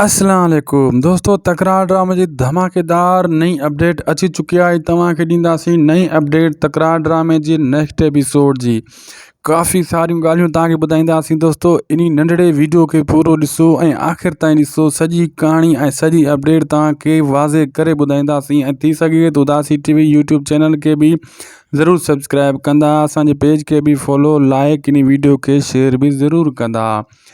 اسلام عليڪم دوستو تڪرار ڊرامي جي ڌماڪيدار نئين اپڊيٽ اچي چڪي آهي توهان کي ڏينداسين نئين اپڊيٽ تڪرار ڊرامي جي نيڪسٽ ايپيسوڊ جي ڪافي ساريون ڳالهيون توهان کي ٻڌائينداسين دوستو ان ننڍڙي ويڊيو کي پورو ڏسو ۽ آخر تائين ڏسو سڄي ڪهاڻي ۽ سڄي اپڊيٽ توهان کي واضح ڪري ٻڌائينداسين ۽ ٿي سگهي ته Udasi TV YouTube channel کي به ضرور سبسڪرائب ڪندا اسان جي پيج کي به فالو لائڪ ان ويڊيو کي شيئر به ضرور ڪندا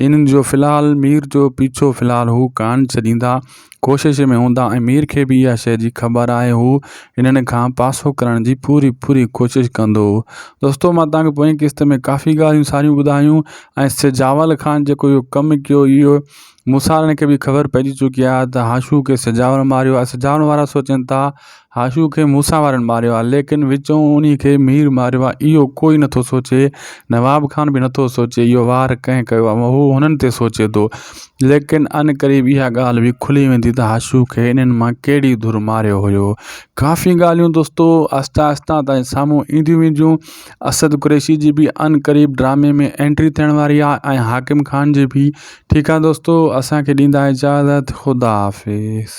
انهن جو في الحال مير جو پيڇو في الحال هو ڪانه ڇڏيندا. ڪوشش ۾ هوندا ۽ مير کي به اها شيء جي خبر آهي. هو انهن کان پاسو ڪرڻ جي پوري پوري ڪوشش ڪندو. دوستو مان توهان کي پوئين قسط ۾ ڪافي ڳالهيون ساريون ٻڌايون ۽ سجاول خان جيڪو اهو ڪم ڪيو اهو موسارڻ کي به خبر پئجي چڪي آهي ته هاشوء کي سجاول ماريو آهي. سجاول وارا سوچين ٿا هاشو کي موسيٰ وارن ماريو آهي، ليڪن وچون انهي کي مير ماريو آهي، اهو ڪوئي نه ٿو سوچي. نواب خان به نه ٿو سوچي، اهو وار ڪنهن ڪيو آهي، هو هنن تي سوچي ٿو. ليڪن ان قريب اها ڳالهه به کلي ويندي ته هاشو کي انهن مان ڪهڙي ڌر ماريو هيو. ڪافي ڳالهيون دوستو آهستي آهستي تائين سامهون اينديون وينديون. اسد قريشي جي به ان قريب ڊرامي ۾ انٽري ٿيڻ واري آهي ۽ حاڪم خان جي به. ٺيڪ آهي دوستو اسان کي ڏيندا اجازت خدا حافظ.